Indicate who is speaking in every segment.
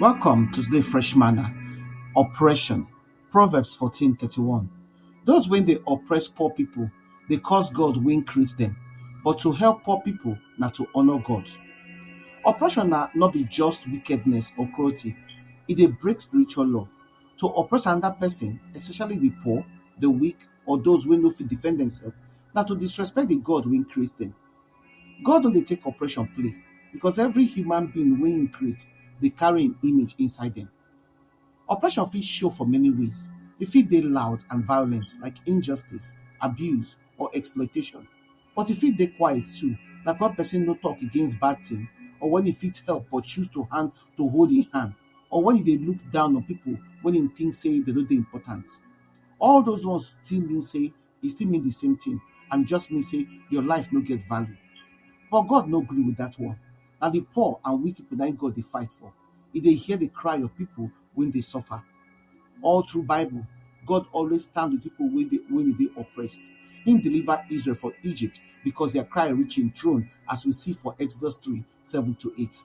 Speaker 1: Welcome to today fresh manner. Oppression. Proverbs 14:31. Those when they oppress poor people, they cause God win create them. But to help poor people, not to honor God. Oppression na not be just wickedness or cruelty. It dey break spiritual law. To oppress another person, especially the poor, the weak, or those wey no fit defend themselves, na to disrespect the God wey create them. God no dey take oppression play because every human being wey im create dey carry im image inside dem. Oppression fit show for many ways, e fit dey loud and violent like injustice, abuse or exploitation but e fit dey quiet too like wen person no talk against bad thing or wen e fit help but choose to hand to hold im hand or wen e dey look down on pipu wen im think sey dem no dey important. All those ones still mean sey e still mean the same thing and just mean say your life no get value. But God no gree with that one. Na the poor and weak people na im God dey fight for. He dey hear the cry of people wey dey suffer. All through Bible, God always stand with people wey dey wey dey oppressed. He deliver Israel for Egypt because their cry reach him throne as we see for Exodus 3, 7 to 8.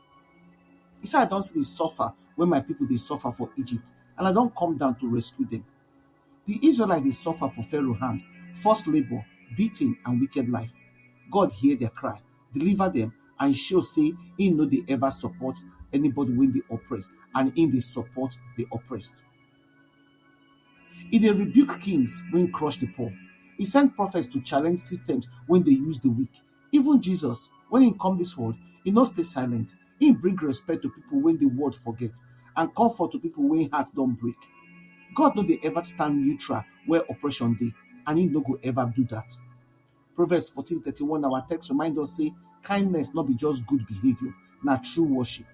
Speaker 1: He say, I don see the suffer when my people dey suffer for Egypt and I don come down to rescue them. Di Israelites dey suffer for Pharaoh hand, forced labour, beating and wicked life. God hear dia cry, deliver dem and show say im no dey ever support anybody wey dey oppressed and im dey support di oppressed. E dey rebuke kings wey crush di poor, e send prophets to challenge systems wey dey use di weak, Even Jesus, wen im come dis world, e no stay silent. Im bring respect to pipo wey di world forget and comfort to pipo wey heart don break. God no dey ever stand neutral where oppression dey and im no go ever do dat. Proverbs fourteen thirty one our text remind us say kindness no be just good behaviour, na true worship.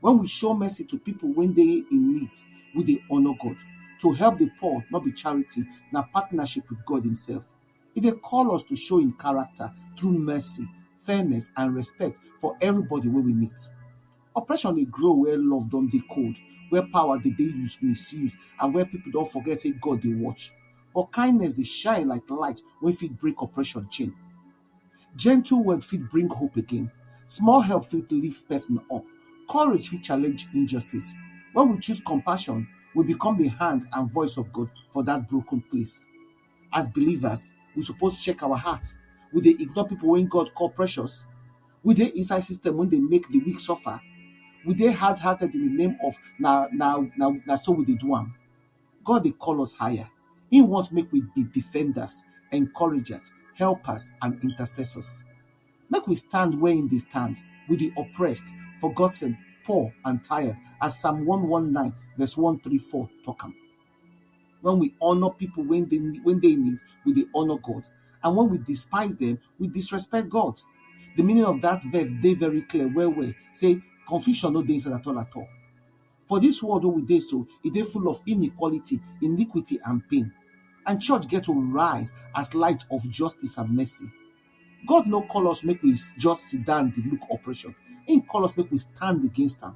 Speaker 1: When we show mercy to people wey dey in need, we dey honour God. To help the poor no be charity, na partnership with God himself. E dey call us to show im character through mercy, fairness and respect for everybody wey we meet. Oppression dey grow where love don dey cold, where power dey dey use misuse and where people don forget say God dey watch. But kindness dey shine like light wey fit break oppression chain. Gentle word fit bring hope again, small help fit lift person up, courage fit challenge injustice. When we choose compassion, we become the hand and voice of God for that broken place. as believers, we suppose check our heart. We dey ignore people when God call precious. We dey inside system when they make the weak suffer. We dey hard-hearted in the name of na na na na so we dey do am. God dey call us higher. He want make we be defenders, encouragers, helpers, and intercessors. Make we stand where in the stand with the oppressed, forgotten, poor, and tired, as Psalm 119, verse 134 talk am. When we honor people when they when they need, we they honor God. And when we despise them, we disrespect God. The meaning of that verse they very clear. Where we say confusion no dey inside at all at all. For this world wey we dey so, e dey full of inequality, iniquity, and pain. And church get to rise as light of justice and mercy. God no call us make we just sit down dey look oppression. He call us make we stand against am.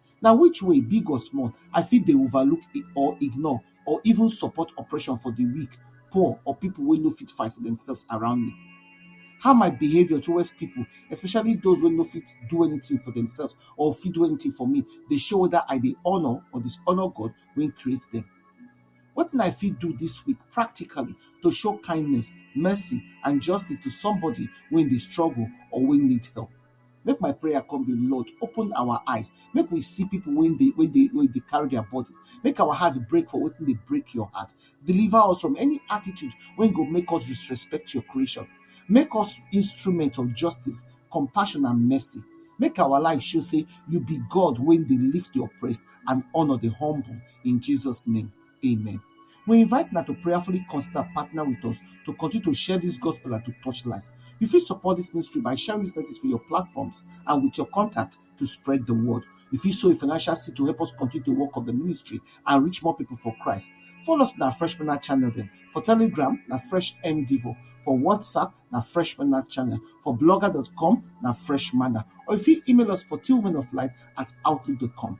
Speaker 1: Na which way, big or small, I fit dey overlook or ignore or even support oppression for di weak, poor or pipo wey no fit fight for demselves around me? How my behavior towards pipo, especially those wey no fit do anything for demselves or fit do anything for me dey show weda I dey honour or dishonour God wey create dem? Wetin I fit do dis week practically to show kindness, mercy and justice to somebody wey dey struggle or wey need help? Make my prayer come be Lord open our eyes make we see people when they when they when they carry their body make our heart break for wetin dey break your heart deliver us from any attitude when go make us disrespect your creation make us instrument of justice compassion and mercy make our life show say you be God when they lift the oppressed and honor the humble in Jesus name Amen. We invite una to prayerfully consider partner with us to continue to share this gospel and to touch lives. You fit support this ministry by sharing this message for your platforms and with your contact to spread the word. You fit sow a financial seed to help us continue the work of the ministry and reach more people for Christ. Follow us on our Fresh Manna channel then. For Telegram, na Fresh MDivo. For WhatsApp, na Fresh Manna channel. For blogger.com, na Fresh Manna. Or if you email us for two women of light at outlook.com.